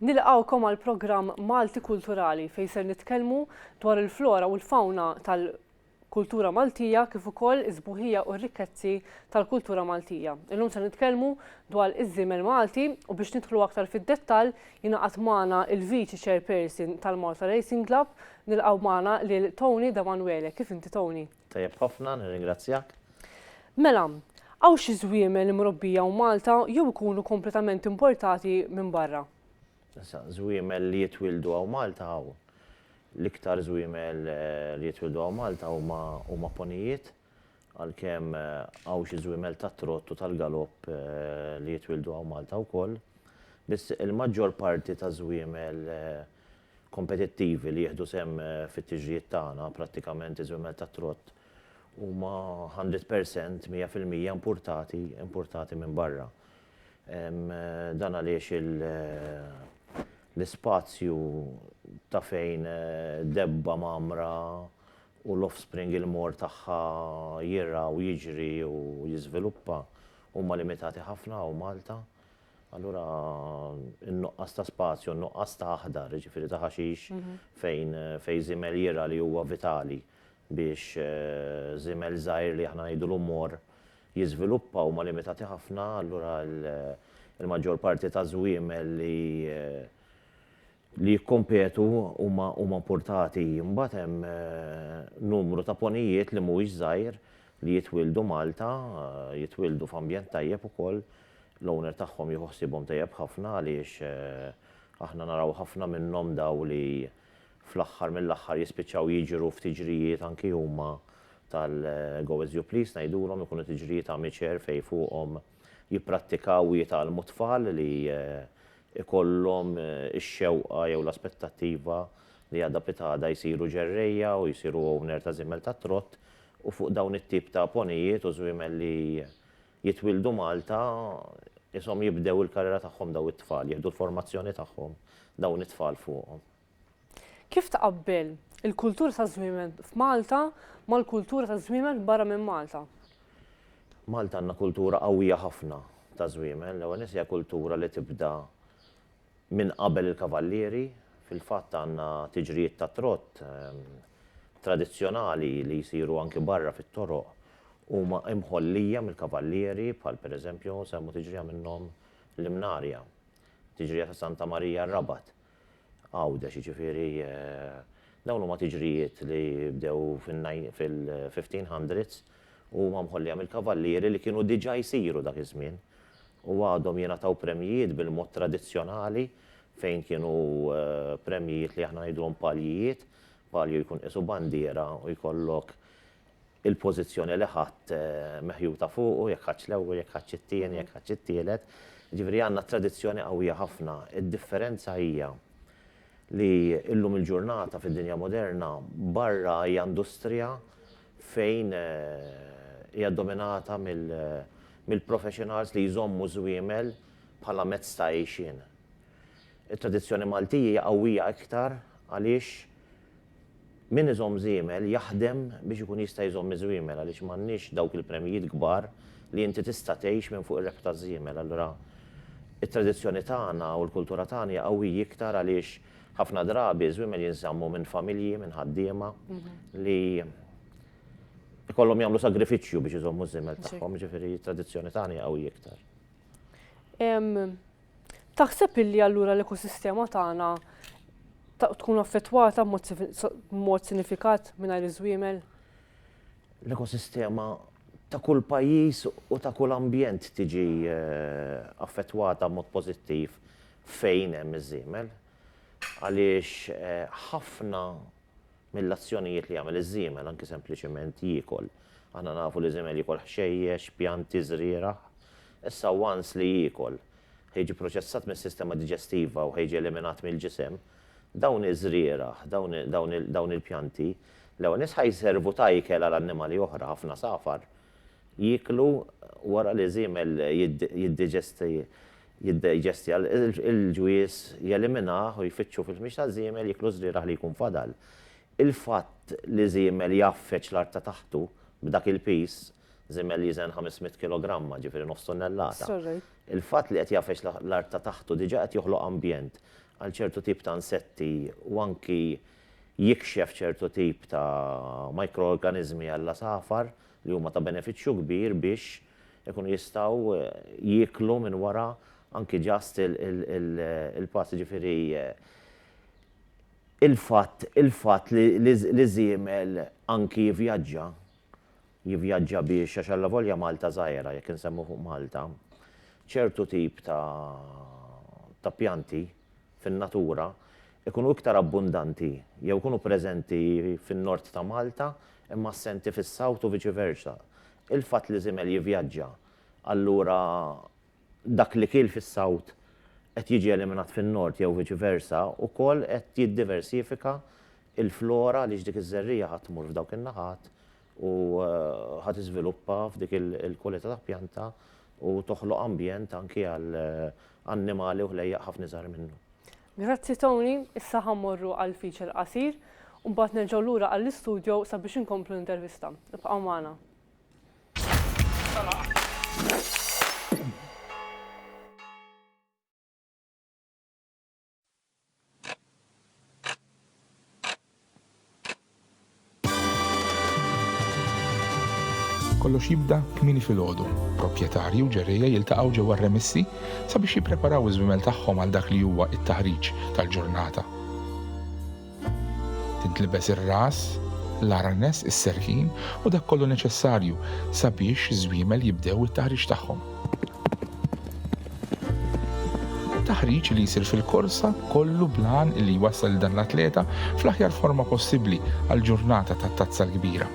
Nilqgħukom għall-programm Malti Kulturali fejn ser nitkellmu dwar il-flora u l-fawna tal kultura Maltija kif ukoll is-sbuħija u r-rikkezzi tal-kultura Maltija. Illum se nitkellmu dwar iż-żiemel Malti u biex nidħlu aktar fid-dettall jingħaqad magħna il-Viċi Chairperson tal-Malta Racing Club nilqgħu magħna lil Tony Damanuele. Kif inti Tony? Tajjeb ħafna, nirringrazzjak. Mela, hawn xi żwiemel imrobbija hawn Malta jew ikunu kompletament importati minn barra? Issa, żwiemel li jitwieldu hawn Malta hawn. L-iktar żwiemel li jitwieldu hawn Malta huma huma ponijiet, għalkemm hawn xi żwiemel tat-trott u tal-galopp li jitwieldu hawn Malta wkoll. Biss il-maġġor parti taż-żwiemel kompetittivi li jieħdu sehem fit-tiġrijiet tagħna, prattikament iż-żwiemel tat-trott, huma hundred per cent, mija fil-mija, impurtati, impurtati minn barra. Dan għaliex l-ispazju ta' fejn debba mgħammra u l-offspring il-more tagħha jirgħa u jiġri u jiżviluppa huma limitati ħafna hawn Malta. Allura n-nuqqas ta' spazju, n-nuqqas ta' aħdar, jiġifieri ta' ħaxix fejn fejn żiemel jira li huwa vitali biex żiemel żgħir li aħna ngħidulu mor jiżviluppa huma limitati ħafna allura l-maġġor parti ta' żwiemel li li jikkompetu huma importati. Imbagħad hemm numru ta' ponijiet li mhuwiex żgħir li jitwieldu Malta, jitwieldu f'ambjent tajjeb ukoll. L-owner tagħhom jieħu ħsiebhom tajjeb ħafna għaliex aħna naraw ħafna minnhom dawn li fl-aħħar mill-aħħar jispiċċaw jiġru f'tiġrijiet anki huma tal-go as you please ngħidulhom, ikunu tiġrijiet amateur fejn fuqhom jipprattikaw u jitgħallmu tfal li jkollhom ix-xewqa jew l-aspettattiva li għada pitgħada jsiru ġerrejja u jsiru owner ta' żiemel tat-trott u fuq dawn it-tip ta' ponijiet u żwiemel li jitwieldu Malta qishom jibdew il-karriera tagħhom daw it-tfal, jieħdu l-formazzjoni tagħhom dawn it-tfal fuqhom. Kif tqabbel il-kultura taż-żwiemel f'Malta mal-kultura taż-żwiemel barra minn Malta? Malta għandna kultura qawwija ħafna taż-żwiemel. L-ewwel nett hija kultura li tibda minn qabel il-kavallieri. Fil-fatt għandna tiġrijiet tat-trott tradizzjonali li jsiru anki barra fit-toroq huma mħollija mill-kavallieri bħal pereżempju nsemmu tiġrija minnhom l-Imnarja, tiġrija ta' Santa Marija r-Rabat. Għawdex, jiġifieri dawn huma tiġrijiet li bdew fil-1500s u huma mħollija mill-kavallieri li kienu diġà jsiru dak iż-żmien u għadhom jingħataw premjijiet bil-mod tradizzjonali fejn kienu premjijiet li aħna ngħiduhom paljijiet, palju jkun qisu bandiera u jkollok il-pożizzjoni li ħadt meħjuta fuqu, jekk ħadtx l-ewwel, jekk ħadtx it-tieni, jekk ħadtx it-tielet. Jiġifieri għandna tradizzjoni qawwija ħafna. Id-differenza hija li llum il-ġurnata fid-dinja moderna barra hija industrija fejn hija dominata mill-professionals li jżommu ż-żwiemel bħala mezz ta' għejxien. It-tradizzjoni Maltija hija qawwija iktar għaliex Min iżomm żiemel jaħdem biex ikun jista' jżomm iż-żwiemel għaliex m'għandniex dawk il-premjijiet kbar li inti tista' tgħix minn fuq ir-rebħ taż-żiemel. Allura it-tradizzjoni tagħna u l-kultura tagħna hija qawwij iktar għaliex ħafna drabi ż-żwiemel jinżammu minn familji, minn ħaddiema li jkollhom jagħmlu sagrifiċċju biex iżommu ż-żiemel tagħhom, jiġifieri t-tradizzjoni tagħna hija qawwija iktar. Taħseb illi allura l-ekosistema tagħna tkun affettwata b'mod sinifikat mingħajr iż-żwiemel? L-ekosistema ta' kull pajjiż u ta' kull ambjent tiġi affettwata b'mod pożittiv fejn hemm iż-żiemel għaliex ħafna mill-azzjonijiet li jagħmel iż-żiemel, anki sempliċement jiekol. Aħna nafu li żiemel jiekol ħxejjex, pjanti, żrieragħ. Issa once li jiekol, ħa jiġi proċessat mis-sistema diġestiva u ħa jiġi eliminat mill-ġisem. Dawn iż-żrieragħ, dawn il-pjanti, l-ewwel nett ħa jservu ta' ikel għal annimali oħra, ħafna safar jieklu wara li żiemel jiddiġesti jiddeġestja l-ġwież, jeliminah u jfittxu fil-ħmieġ taż-żiemel jieklu ż-żrieragħ li jkun fadal. Il-fatt li żiemel jgħaffeġ l-art ta' taħtu b'dak il-piż, żiemel jiżen 500 kilogramma, ġifieri nofs tunnellata, il-fatt li qed jgħaffeġ l-art ta' taħtu diġà qed joħloq ambjent għal ċertu tip ta' insetti u anki jikxef ċertu tip ta' mikroorganiżmi għall-għasafar li huma ta' benefiċċju kbir biex Ikunu jistgħu jieklu minn wara anki just il-pass jiġifieri il-fatt il-fatt li żiemel anki jivvjaġġa jivvjaġġa biex għax allavolja Malta żgħira jekk insemmu fuq Malta ċertu tip ta' ta' pjanti fin-natura ikunu iktar abbundanti jew ikunu preżenti fin-Nord ta' Malta imma assenti fis-South u viċi versa Il-fatt li żiemel jivvjaġġa, allura dak li kiel fis-South qed jiġi eliminat fin-Nord jew viċi versa, ukoll qed jiddiversifika l-flora għaliex dik iż-żerriegħa ħa tmur f'dawk in-naħat u ħa tiżviluppa f'dik il-kwalità ta' pjanta u toħloq ambjent anki għal annimali u ħlejjaq ħafna iżgħar minnu. Grazzi Tony, issa ħa mmorru għall-feature qasir u mbagħad nerġgħu lura għall-istudio sabiex inkomplu l-intervista. Ibqgħu magħna. Kollox jibda kmieni filgħodu. Proprjetarji u ġerrejja jiltaqgħu ġewwa r-remessi sabiex jippreparaw iż-żwiemel tagħhom għal dak li huwa t-taħriġ tal-ġurnata. Tintlibes ir-ras, l-arnes, is-serħin u dak kollu neċessarju sabiex iż-żwiemel jibdew it-taħriġ tagħhom. Taħriġ li jsir fil-korsa kollu bl-għan li jwassal lil dan l-atleta fl-aħjar forma possibbli għall-ġurnata tat-Tazza l-Kbira.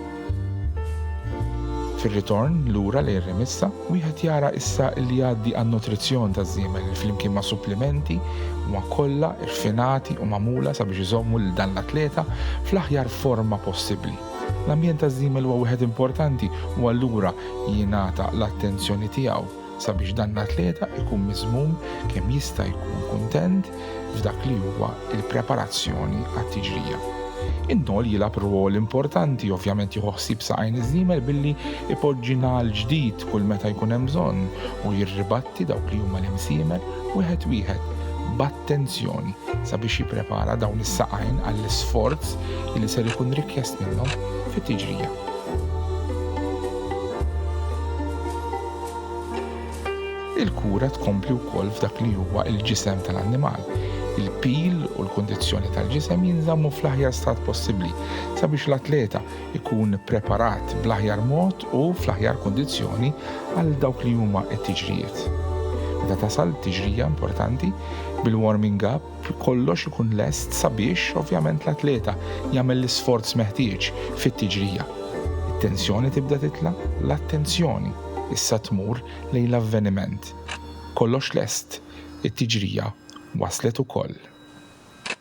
Fir-ritorn lura lejn Remissa, wieħed jara issa li jgħaddi għan-nutrizzjon taż-żiemel li flimkien ma' supplimenti huma kollha rfinati u magħmula sabiex iżommu lil dan l-atleta fl-aħjar forma possibbli. L-ambjent taż-żiemel huwa wieħed importanti u allura jingħata l-attenzjoni tiegħu sabiex dan l-atleta jkun miżmum kemm jista' jkun kuntent f'dak li huwa l-preparazzjoni għat-tiġrija. In-nol jilgħab rwol importanti ovvjament jieħu ħsieb saqajn iż-żiemel billi ipoġġi nagħal ġdid kull meta jkun hemm bżonn u jirribatti dawk li huma l-imsiemel wieħed wieħed tensjoni sabiex jipprepara dawn is-saqajn għall-isforz li ser ikun rikjest minnhom fit-tiġrija. il-kura tkompli wkoll f'dak li huwa l-ġisem tal-annimal. Il-pil u l-kundizzjoni tal-ġisem jinżammu fl-aħjar stat possibbli sabiex l-atleta ikun ippreparat bl-aħjar mod u fl-aħjar kundizzjoni għal dawk li huma t-tiġrijiet. Meta tasal tiġrija importanti, bil-warming up kollox ikun lest sabiex ovvjament l-atleta jagħmel l-isforz meħtieġ fit-tiġrija. It-tensjoni tibda titla', l-attenzjoni issa tmur lejn l-avveniment. Kollox lest, it-tiġrija waslet ukoll.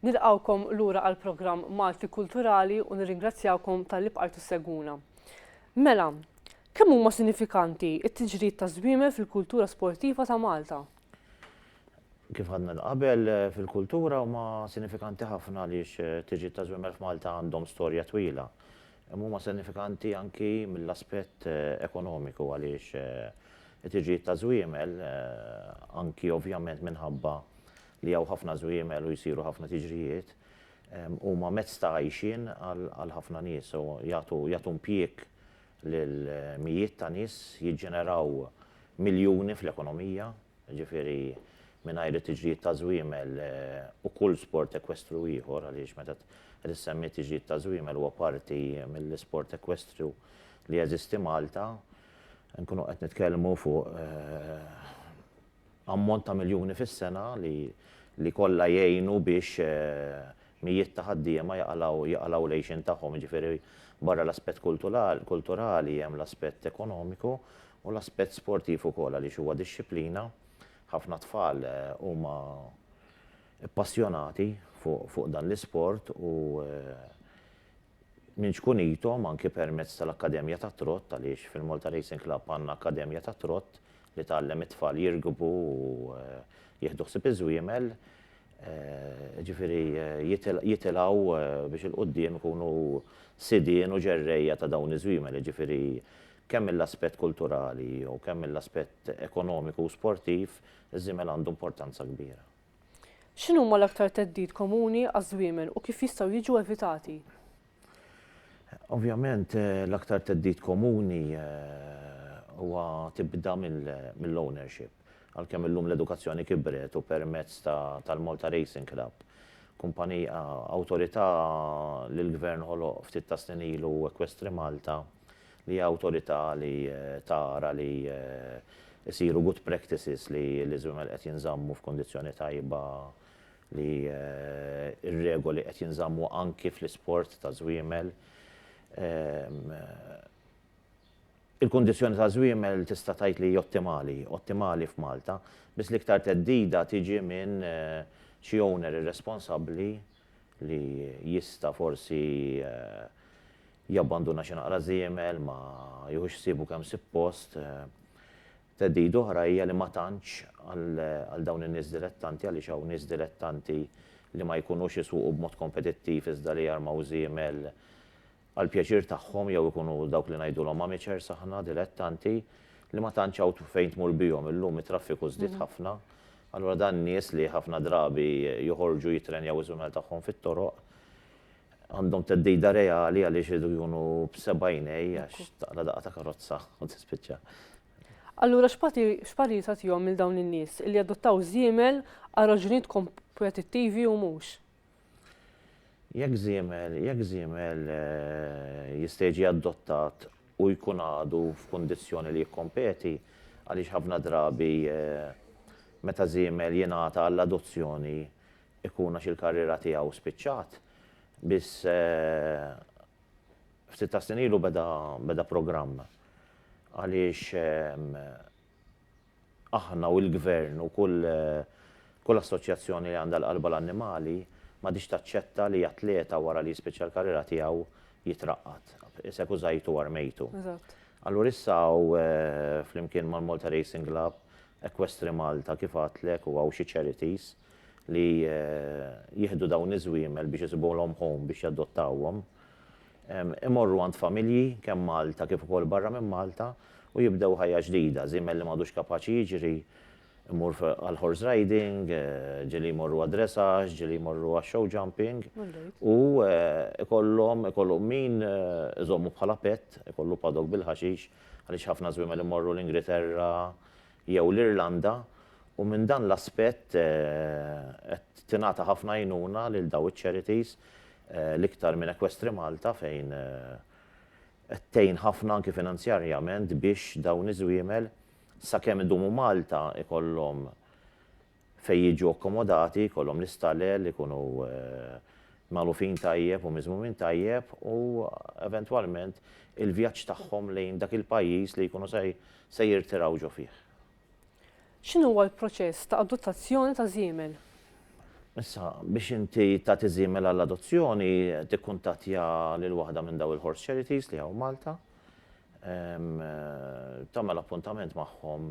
Nilqawkom lura għal programm Malti Kulturali u nirringrazzjawkom tal-li bqajtu seguna. Mela, kemm huma sinifikanti it-tiġrid ta' żwiemel fil-kultura sportiva ta' Malta? Kif għadna l-qabel, fil-kultura huma sinifikanti ħafna għaliex tiġrid ta' żwiemel f'Malta għandhom storja twila. Imma huma sinifikanti anki mill-aspett ekonomiku għaliex it-tiġdid ta' żwiemel, anki ovvjament minħabba li hawn ħafna żwiemel u jsiru ħafna tiġrijiet, huma mezz ta' għajxien għal ħafna nies u jagħtu impjieg lil mijiet ta' nies, jiġġeneraw miljuni fl-ekonomija. jiġifieri mingħajr it-tiġrijiet ta' żwiemel u kull sport ekwestru ieħor, għaliex meta qed issemmi t-tiġrid ta' żwiemel huwa parti mill-isport ekwestru li jeżisti Malta, inkunu qed nitkellmu fuq ammont ta' miljuni fis-sena li kollha jgħinu biex mijiet ta' ħaddiema jaqalgħu l-għixien tagħhom. Jiġifieri barra l-aspett kulturali hemm l-aspett ekonomiku U l-aspett sportiv ukoll għaliex huwa dixxiplina, ħafna tfal huma ppassjonati fuq dan l-isport u minn ċkunithom anki permezz tal-akkademja tat-trott għaliex fil-Malta Racing Club għandna akkademja tat-trott li tgħallem it-tfal jirkbu u jieħdu ħsieb iż-żwiemel, jiġifieri jitilgħu biex 'il quddiem ikunu sidien u ġerrejja ta' dawn iż-żwiemel, jiġifieri Kemm mill-aspett kulturali u kemm mill-aspett ekonomiku u sportiv, iż-żiemel għandu importanza kbira. X'inhuma l-aktar theddid komuni għaż-żwiemel u kif jistgħu jiġu evitati? Ovvjament, l-aktar theddid komuni huwa tibda mill-ownership. Għalkemm illum l-edukazzjoni kibret u permezz tal-Malta Racing Club, kumpanija, awtorità li l-Gvern ħoloq ftit tas-snin ilu, Equestrimalta, li hija awtorità li tara li jsiru good practices li l-iżwiemel qed jinżammu f'kundizzjoni tajba, li r-regoli qed jinżammu anki fl-isport ta' żwiemel. Il-kundizzjoni ta' żwiemel tista' tgħid li hi ottimali, ottimali f'Malta, biss l-iktar theddida tiġi minn xi owner irresponsabbli, li jista' forsi jabbanduna xi naqra żiemel, ma jieħux ħsiebu kemm sippost. Theddida oħra hija li ma tantx għal dawn in-nies dilettanti għaliex hawn nies dilettanti li ma jkunux isuqu b'mod kompetittiv iżda li jarmaw żiemel għall-pjaċir tagħhom jew ikunu dawk li ngħidulhom amateurs aħna, dilettanti, li ma tantx hawn fejn tmur bihom. Illum it-traffiku żdied ħafna, allura dan nies li ħafna drabi joħorġu jittrenjaw iż-żwiemel tagħhom fit-toroq għandhom theddida reali għaliex iridu jkunu b'seba' għinejn għax taqla' daqqa ta' karozza u tispiċċa. Allura x'parir tagħtihom lil dawn in-nies li jadottaw żiemel għal raġunijiet kompetittivi u mhux? Jekk żiemel, jekk żiemel jista' jiġi adottat u jkun għadu f'kundizzjoni li jikkompeti, għaliex ħafna drabi meta żiemel jingħata għall-adozzjoni jkun għax il-karriera tiegħu spiċċat, biss ftit tas-snin ilu beda beda programm għaliex aħna u l-Gvern u kull kull assoċjazzjoni li għandha l-qalba l-annimali m'għadhiex taċċetta li atleta wara li jispiċċa l-karriera tiegħu jitraqqad. Isek użajtu u armejtu. Eżatt. Allura issa hawn flimkien mal-Malta Racing Club, Equestri Malta kif għadtlek u hawn xi charities li jieħdu dawn iż-żwiemel biex isibuhom home biex jadottawhom. Imorru għand familji, kemm Malta kif ukoll barra minn Malta, u jibdew ħajja ġdida. Żiemel li m'għadux kapaċi jiġri, imur għall-horse riding, ġieli jmorru għad-dressage, ġieli jmorru għax-show jumping, u jkollhom, ikollhom min iżommu bħala pet, ikollu paddock bil-ħaxix, għaliex ħafna żwiemel imorru l-Ingriterra, jew l-Irlanda u minn dan l-aspett qed tingħata ħafna għajnuna lil dawn iċ-charities l-iktar minn Equestri Malta fejn qed tgħin ħafna anki finanzjarjament biex dawn iż-żwiemel sakemm idumu Malta jkollhom Fejn jiġu akkomodati jkollhom l-istalel ikunu magħlufin tajjeb u miżmumin tajjeb u eventwalment il-vjaġġ tagħhom lejn dak il-pajjiż li jkunu se jirtiraw ġo fih. X'inhuwa l-proċess ta' adottazzjoni ta' żiemel? Issa, biex inti tagħti żiemel għall-adozzjoni tikkuntattja lil waħda minn dawn il-Horse Charities li hawn Malta, tagħmel appuntament magħhom,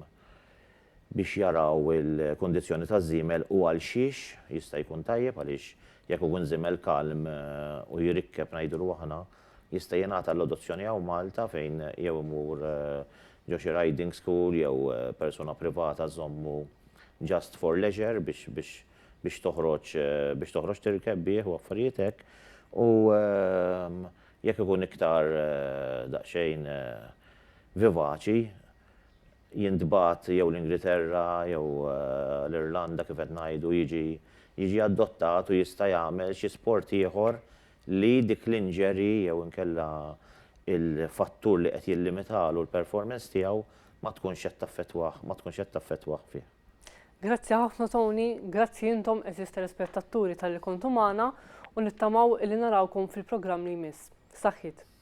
biex jaraw il-kundizzjoni taż-żiemel u għalxiex jista' jkun tajjeb għaliex jekk ikun żiemel kalm u jrikkeb ngħidulu aħna, jista' jingħata l-adozzjoni hawn Malta fejn jew imur ġo xi riding school jew persuna privata żżommu just for leisure biex biex biex toħroġ biex toħroġ tirkeb bih u affarijiet hekk u jekk ikun iktar daqsxejn vivaċi. jintbagħat jew l-Ingilterra jew l-Irlanda kif qed ngħidu jiġi jiġi adottat u jista' jagħmel xi sport ieħor li dik l-injury jew inkella il-fattur li qed jillimitalu l-performance tiegħu ma tkunx qed taffettwah ma tkunx qed taffettwah fih. Grazzi ħafna Tony, grazzi intom għeżież telespettaturi talli kontu magħna u nittamaw illi narawkom fil-programm li jmiss. Saħħiet!